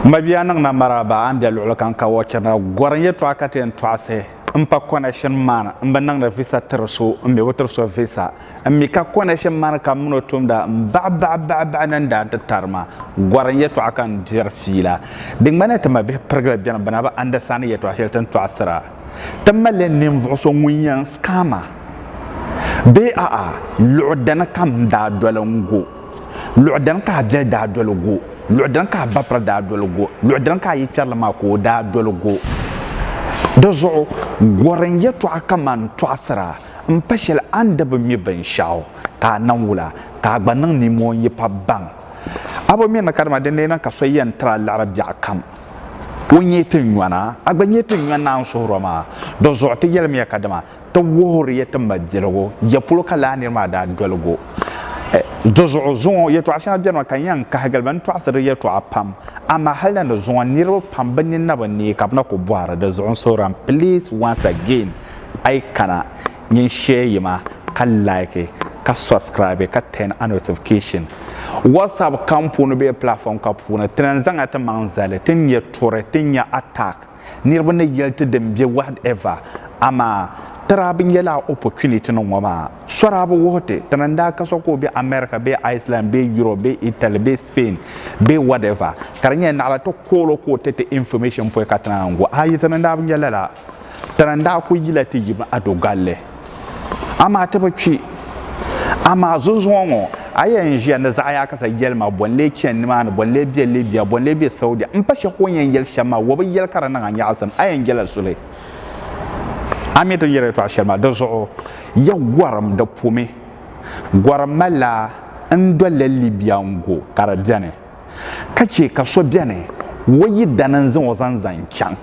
Mabia niŋna maraba a ni bɛ luɣuli kam ka wɔ chɛnda gɔrim yɛtɔɣa ka ti yɛn tɔɣisi n pa connection man n bi niŋdi visa tiri so n mi bi tiri so visa n mi ka connection man ka mini o tumda n baɣi baɣi baɣi baɣi ni n daa ti tari ma gɔrim yɛtɔɣa ka n diri fiila di ŋmanila ti mabihi pirigili bɛni bɛ na bi understand yɛtɔɣa shɛli ti ni tɔɣisira Ti malila ninvuɣu so ŋun yɛn skaa ma? Bee a'a, luɣ dini ka m daa doli n-go? Luɣ dini ka a biɛli daa doli go? Luɣ dini ka a bapira daa doli go? Luɣ dini ka a yipiɛrili maa ka o daa doli go? Di zuɣu gɔrim yɛtɔɣa kaman tɔɣisira m-pa shɛli a ni di bi mi binshɛɣu ka a nam wula, ka a gba niŋ nimooi n-yi pa baŋ. A bi mi ni ka dama di neei niŋ ka so yɛn tiri a liɣiri biɛɣukam. Ŋun nyɛ ti nyɔna, a gba nyɛ ti nyɔna n suhiri o maa. Dɔzuɣu ti yɛlimiya kadama ti wuhiri ya ti mabiligu ya polo ka lala nir maa daa dolig o. Dɔzuɣu zuŋɔ yɛtɔɣ shɛŋa benima ka n yɛn kahigil ba ni tɔɣisiri di yɛtɔɣa pam, amaa hal na di zuŋɔ niriba pam bɛ ninni bi neei ka bɛ na kul bɔhiri di zuɣu n suhiri a. Please once again, a yi kana. nyin share yima ka like ka subscribe ka turn a notification whatsapp kam puuni bee platform ka puuni ti na n zaŋ a ti maŋ zali ti nya turi ti nya attack niriba ni yɛli ti din be whatever amaa tira bi nyɛla a opportunity ni ŋɔ maa sɔra bi wuhi ti ti na n daa ka so ka o be America bee Iceland bee Europe bee Italy bee Spain bee whatever ka di nyɛla naɣila ti koolo ka o ti ti information pɔi ka ti na n go a yi ti ni daa bi nya lala Tana n-daa kuli yila ti yim Ado Galli. Amaa ti bi kpi. Amaa zuzuŋɔ ŋɔ, a yɛn ʒiya ni zaɣiyaakasa yɛli ma bɔ n-lee chani nimaani, bɔ n-lee be Libya, bɔ n-lee be Saudia. M pa shɛli ka o ni yɛn yɛli shɛm maa, o bi yɛli ka di niŋ a nyaɣisim. A yɛn jela suhi. A mi ti ni yɛli yɛltɔɣa shɛli maa. Di zuɣu, ya gɔrim di pumi. Gɔrim malila n dolila Libya n-gu ka di beni. ka chɛ ka so bɛni o yidana n-zaŋ o zaŋ zaŋ chaŋ,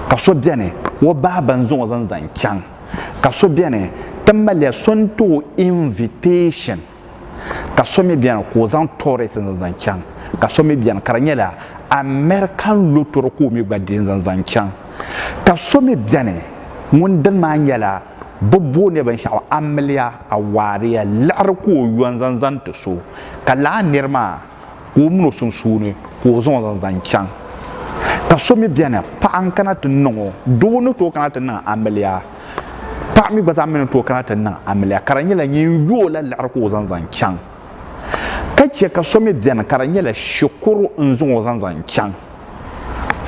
ka so bɛni o baaba n-zaŋ o zaŋ zaŋ chaŋ, ka so bɛni ti maliya so n-ti o invitation, ka so mi bɛni ka o zaŋ tourist n-zaŋ zaŋ chaŋ, ka so mi bɛni ka di nyɛla American lottery ka o mi gba deei n-zaŋ zaŋ chaŋ, ka so mi bɛni ŋun dini maa nyɛla. Bɛ booniya binshɛɣu amiliya, awaariya, liɣiri ka o yɔn zaŋ zani ti so, ka lahi niri maa ka o min o sunsuuni ka o zaŋ o zaŋ zaŋ chaŋ. Ka so mi beni, paɣa n-kana ti niŋ o, doo ni tooi kana ti niŋ amiliya, paɣa mi gba zaa mi ni tooi kana ti niŋ amiliya, ka di nyɛla ŋun yo o la liɣiri ka o zaŋ zaŋ chaŋ. Ka chɛ ka so mi beni ka di nyɛla shikuru n-zaŋ o zaŋ zaŋ chaŋ.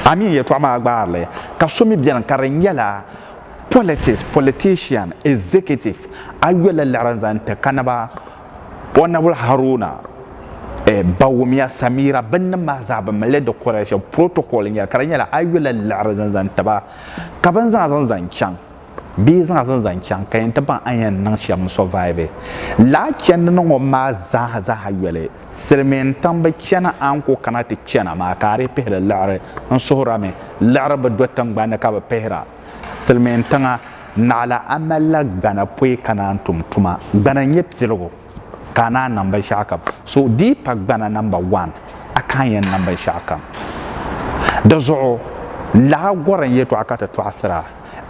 Amin! Yɛltɔɣa maa gbaari li. Ka so mi beni ka di nyɛla. Politics, politician, executive, ayola liɣiri n-zaŋ ti Kanaba Honourable Haruna eh, Bawumia Samira binnim maa zaa bɛ mali li di kɔrila shɛm protocol n-nyɛli ka di nyɛla ayola liɣiri zaŋ zaŋ ti ba ka bini zaŋ zaŋ zaŋ chaŋ bee yi zaŋ zaŋ zaŋ chaŋ ka yɛn ti baŋ a ni yɛn niŋ shɛm n-survive laa chɛndi ni ŋɔ maa zaaha zaaha yoli. Silimiin tiŋ bi chana a ni ku kana ti chana maa ka a dii pihiri liɣiri n suhurami liɣiri bi do tiŋgbani ka bi pihira silimiin tiŋa naɣila a malila gbana pɔi ka naan tum tuma gbana n nyɛ piligu ka a naan niŋ binshɛɣu kam so dii pa gbana namba wan a ka a yɛn niŋ binshɛɣu kam di zuɣu laɣa gɔri n yɛtɔɣa ka ti tɔɣisira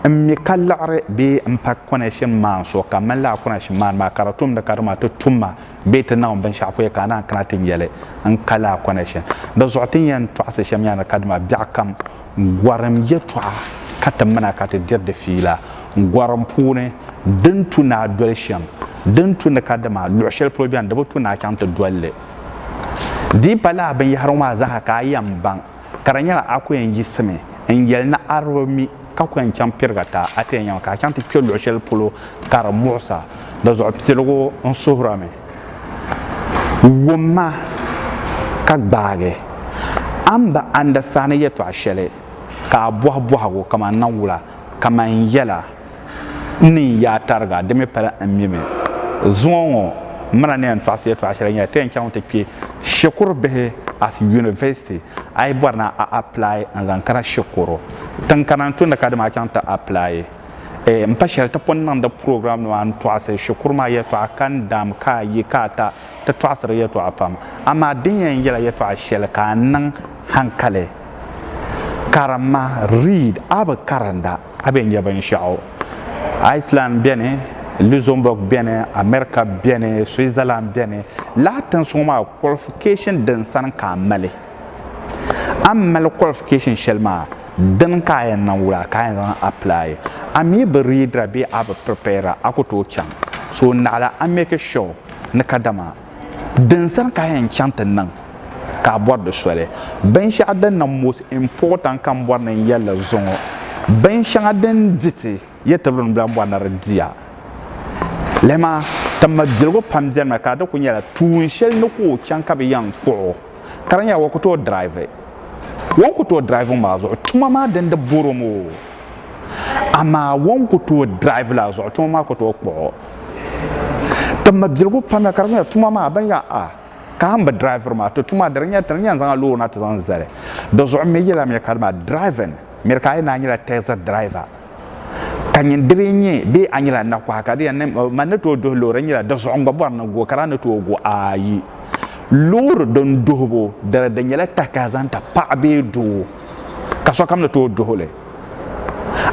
n mi ka liɣiri bee m pa kɔnɛshin maan so ka m mali lala kɔnɛshin maan maa ka di tumdi ka dama ti tum ma bee ti niŋ binshɛɣu puya ka a naan kana ti nyɛli n kali a kɔna shɛm. Di zuɣu ti ni yɛn tɔɣisi shɛm yaa ni kadama biɛɣu kam, gɔrim yɛtɔɣa ka ti mina ka ti diri di fiila. Gɔrim puuni, din tu ni a doli shɛm, din tu ni kadama luɣ shɛli polo beni di bi tu ni a chaŋ ti dol li. Di yi pa lala binyɛhiri ŋɔ maa zaaha ka a yɛn baŋ. ka di nyɛla a ku yɛn yiɣisimi n yɛli ni a di mi ka ku yɛn chaŋ piriga ti a ti yɛn nyɛma ka a chaŋ ti kpe luɣ shɛli polo ka di muɣisa di zuɣu piligu n suhira mi wum ma ka gbaagi a ni bi andasani yɛtɔɣ shɛli ka a bɔhi bɔhigu kaman nawula kaman yɛla ni yaa tariga di mi pala n mi mi zuŋɔ ŋɔ mana ni yɛn tɔɣisi yɛtɔɣa shɛli nyɛla ti yɛn chaŋ ti kpe shikuru bihi as university a yi bɔri ni a apply n zaŋ kana shikuru tiŋ kana n tumdi ka dama a chaŋ ti apply eh, m pa shɛli ti pun niŋdi program nima n tɔɣisi shikuru maa yɛtɔɣa ka n daam ka a yi ka a ta ti tɔɣisiri yɛtɔɣa pam amaa din yɛn yɛla yɛtɔɣa shɛli ka a niŋ hankali karimma read a bi karinda A be nya binshɛɣu. Iceland beni, Luxembourg beni, America beni, Switzerland beni. Lala tinsuŋɔ maa qualification din sani ka a mali. A ni mali qualification shɛli maa, dini ka a yɛn niŋ wula ka a yɛn zaŋ apply. A mi bi readira bee a bi prepare a ku tooi chaŋ. So naɣila a make sure ni kadama Din sani ka a yɛn chaŋ ti niŋ ka a bɔri di soli? Binshɛɣu din niŋ most important ka n bɔri ni n yɛli li zuŋɔ, binshɛŋa din di ti ya tibiri ni bɛ lahi bɔri ni di di a. Lala maa ti mali biligu pam beni mi ka di kuli nyɛla tuun shɛli ni ka o chaŋ ka bɛ yɛn kpuɣi o ka di nyɛla o ku tooi drive. O ni ku tooi driving maa zuɣu tuma maa din di bɔri o mi o, amaa o ni ku tooi drive la zuɣu tuma maa ku tooi kpuɣi o. Ti mabiligu pamya ka di nyɛla tuma maa ban ya a ka a mi driviri maa ti tuma di nyɛla ti ni yɛn zaŋ a loori na ti zaŋ zali di zuɣu mi yɛla mi ka di maa driving miri ka a yɛn daa nyɛla taxi driver ka nyin di lee nyɛ bee a nyɛla nakɔha ka di yɛn ma ni tooi duhi loori nyɛla di zuɣu n gba bɔri ni go ka daa ni tooi go ayi loori din duhibu dali di nyɛla takaha zaŋ ti paɣa bee doo ka sokam ni tooi duhili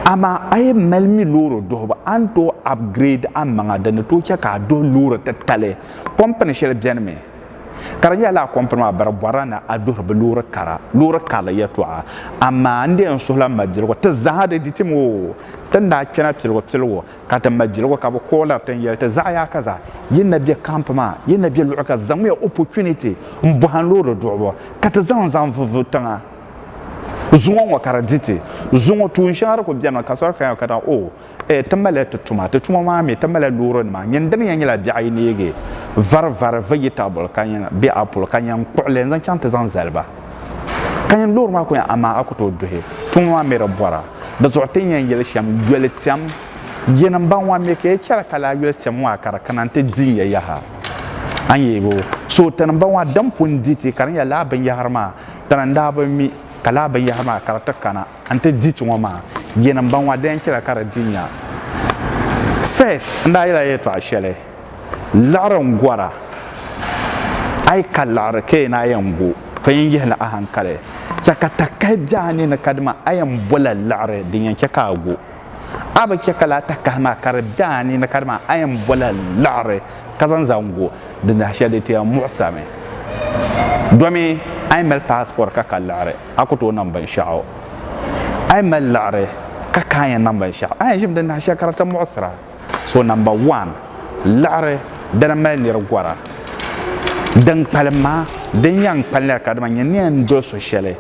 Amaa a yɛn mali mi loori duhibu a ni tooi upgrade a maŋa din ni tooi chɛ ka a duhi loori titali. Kɔmpini shɛli bɛnimi ka di nyɛla lala kɔmpini maa bari bɔrila ni a duhiri bɛ loori kara, loori karili yɛltɔɣa. Amaa n di yɛn suhila m ma Biligu ti zaaha di di tim oo! Ti ni daa kpɛna piligu piligu ka ti ma Biligu ka bɛ kɔɔliri ti n-yɛli ti zaɣ yaaka zaa yi na bɛ camp maa, yi na bɛ luɣi ka zaŋmiya opportunity m-bɔhim loori duhibu ka ti zaŋ zaŋ vuhibu tiŋa. zuŋɔ ŋɔ ka di di ti zuŋɔ tuun shɛŋa di ku bɛni mi ka sɔri kaya ka da o eh, ti malila ti tuma ti tuma maa mi ti malila loori nima nyini dini yɛn nyɛla biɛɣu yi neegi vari vari vegetable ka yɛn bɛ apple ka yɛn kpuɣili n zaŋ chaŋ ti zaŋ zali ba ka yɛn loori maa ku yɛn amaa a ku tooi duhi tuma maa mi di bɔra di zuɣu ti ni yɛn yɛli shɛm yoli tɛm yɛn n baŋ ŋɔ mi ka yi chɛli ka laa yoli tɛm ŋɔ a ka di kana n ti di ya yaha a ni yɛli o so tini n baŋ ŋɔ din pun di ti ka di nyɛla laa binyɛhiri maa Tana n daa bi mi ka laa binyɛhiri maa ka di ti kana n-ti di ti ŋɔ maa, yinim m ba ŋɔ a daa yɛn chɛla ka di di ya. First n daa yɛla yɛltɔɣa shɛli, Liɣiri n gɔra, a yi ka liɣiri ka yi naa yɛn go, ka yɛn yihi li a hankali, chɛ ka takahi be a ni ni ka di maa, a yɛn bola liɣiri din yɛn chɛ ka a go. a bi chɛ ka laa takahi maa ka di bɛ a ni na ka dama a yɛn bɔla liɣiri ka zaŋ zaŋ go di nahi shɛli di ti yɛn muɣisirimi domi a yi mali paasipɔri ka ka liɣiri a ku tooi niŋ binshɛɣu a yi mali liɣiri ka ka a yɛn niŋ binshɛɣu a yɛn ʒimi di nahi shɛli ka di ti muɣisira So namba wan, liɣiri dini mali nir gɔra. Din kpalim maa, din yan kpalinli ka dama nyɛ ni yan doli so shɛli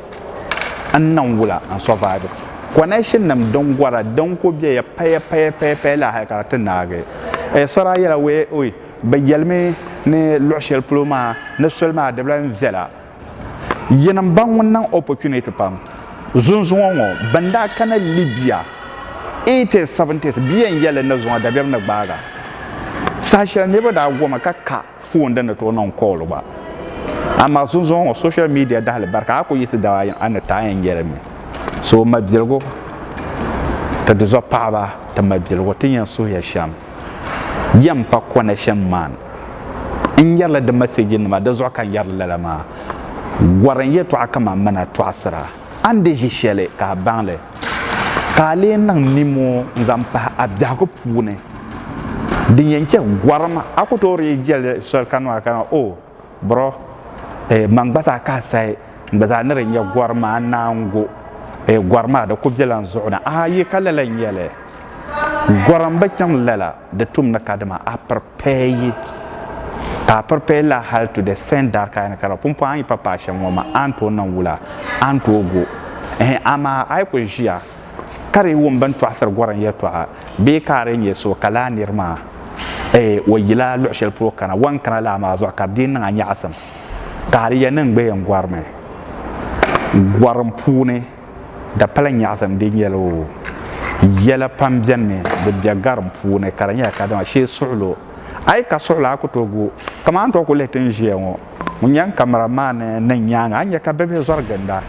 n niŋ wula n survive. Connection nim din gɔra din ku bɛ ya paya paya paya paya la hali ka di ti naagi. Eh, so daa yɛla wee, oi, bɛ yɛlimi ni luɣ shɛli polo maa ni soli maa di bi lahi viɛla. Yinim n ba ŋun niŋ opportunity pam zunzuŋɔ ŋɔ bɛn daa kana Libya 80s 70s bia n yɛli ni zuŋɔ dabiɛm ni gbaaga saha shɛli niriba daa gomi ka ka phone din ni tooi niŋ call gba amaa zunzuŋɔ ŋɔ social media dahili barika a ku yiɣisi dab ayi a ni ti a yɛn yɛli mi so mabiligu ti di zuɣu paɣaba ti mabiligu ti yɛn suhiya shɛm. yɛn pa connection man n yɛrila di message nima di zuɣu ka n yɛrili lala maa gɔri n yɛtɔɣa kaman mana tɔɣisira a ni di ʒi shɛli ka a baŋ li ka a lee niŋ nimo n zaŋ pahi a biɛhigu puuni din yɛn chɛ gɔrim a ku tooi dii jɛli soli ka niŋ a ka o Bro eh man gba zaa ka a sayi n gba zaa ni di nya gɔri maa naango eh gɔri maa di ku be lan zuɣu ni a yi ka lala nyɛli gɔri n bi chaŋ lala di tum ni kadama a prepare yi ka a prepare la hali to the send that ka a ni kara pumpɔŋ a yi pa paai shɛm ŋɔ ma a ni tooi niŋ wula a ni tooi go ehe amaa a yi ku ʒiya Ka di wum bɛn tɔɣisiri Gɔrim yɛtɔɣa bee ka a lee nyɛ so ka laa nir maa o yila luɣ shɛli polo kana, wan kana laa maa zuɣu ka di dii niŋ a nyaɣisim ka a di yɛn niŋ gbeem gɔrimi. Gɔrim puuni dapala nyaɣisim di nyɛla o. Yɛla pam bɛnimi di bɛ gɔrim puuni ka di nyɛla kadama shee suɣilo. A yi ka suɣilo a ku tooi gu o, kaman n tooi ku lihi ti ni ʒiya ŋɔ. Ŋun yɛn kamara maa ni niŋ nyaaŋa, a ni nya ka bibihi zɔri ginda.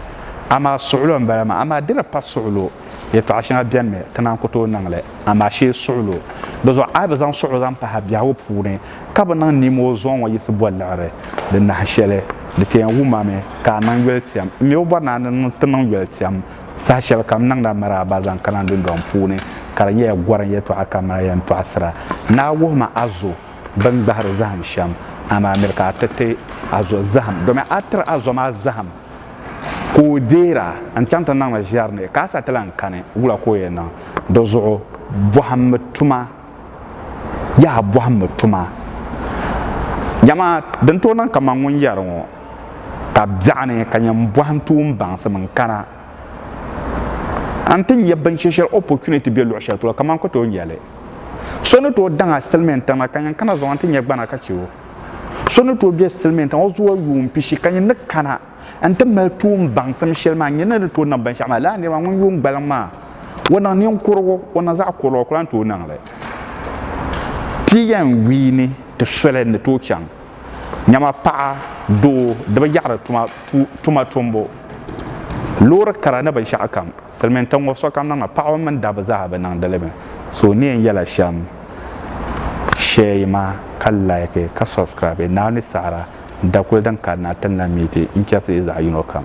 Amaa suɣulo m-bala maa. Amaa di ni pa suɣulo, yɛtɔɣ shɛŋa benimi ti naan ku tooi niŋ li. Amaa shee suɣulo bi zɔri, a yi bi zaŋ suɣulo zaŋ pahi biɛhigu puuni, ka bi niŋ nimo zɔŋ ŋɔ yiɣisi boli liɣiri di nahi shɛli, di ti yɛn wum a mi ka a niŋ yolitiɛm. M mi bi bɔri ni a ni ti niŋ yolitiɛm saha shɛli kam niŋdi a maraaba zaŋ kana n dundɔŋ puuni, ka di nyɛla gɔrim yɛtɔɣa kamina yɛn tɔɣisira ni a wuhi ma a zo. bini gbahiri zahim shɛm, amaa miri ka a ti ti a zo zahim, domin a tiri a zo maa zahim ka o deer a n-chaŋ ti niŋ li ʒiɛri ni, ka a sa ti lan kani. Wula ka o yɛn niŋ? Di zuɣu bɔhimmi tuma. Yaha bɔhimmi tuma. Dama din tooi niŋ kaman ŋun yɛri ŋɔ, ka biɛɣuni ka nyam bɔhim tuun baŋsim n-kana. a ni ti nya binshɛ shɛli opportunity be luɣ shɛli polo kaman ka tooi nya li so ni tooi daŋ a silimiin tiŋa ka nyin kana zuɣu n ti nya gbana ka chɛ o so ni tooi be silimiin tiŋa o zuɣu yuun pishi ka nyin ni kana n ti mali tuun baŋsim shɛli maa nyin ni ni tooi niŋ binshɛɣu maa lala niriba ŋun yuun gbaliŋ maa o niŋ ninkurigu o niŋ zaɣ kurili o ku lan tooi niŋ li ti yɛn wiini ti soli ni tooi chaŋ nyama paɣa, doo di bi yaɣiri tuma tumbu. Loori kara ni binshɛɣu kam Silimiintiŋ ŋɔ sokam niŋ mi, paɣaba mini dabba zaa bi niŋdi li mi. So n ni yɛn yɛla shɛm share yi maa ka like ka subscribe Naawuni ni saɣira da kuli din kanna ti ni na miiti n chɛri ti yi zaɣi yino kam.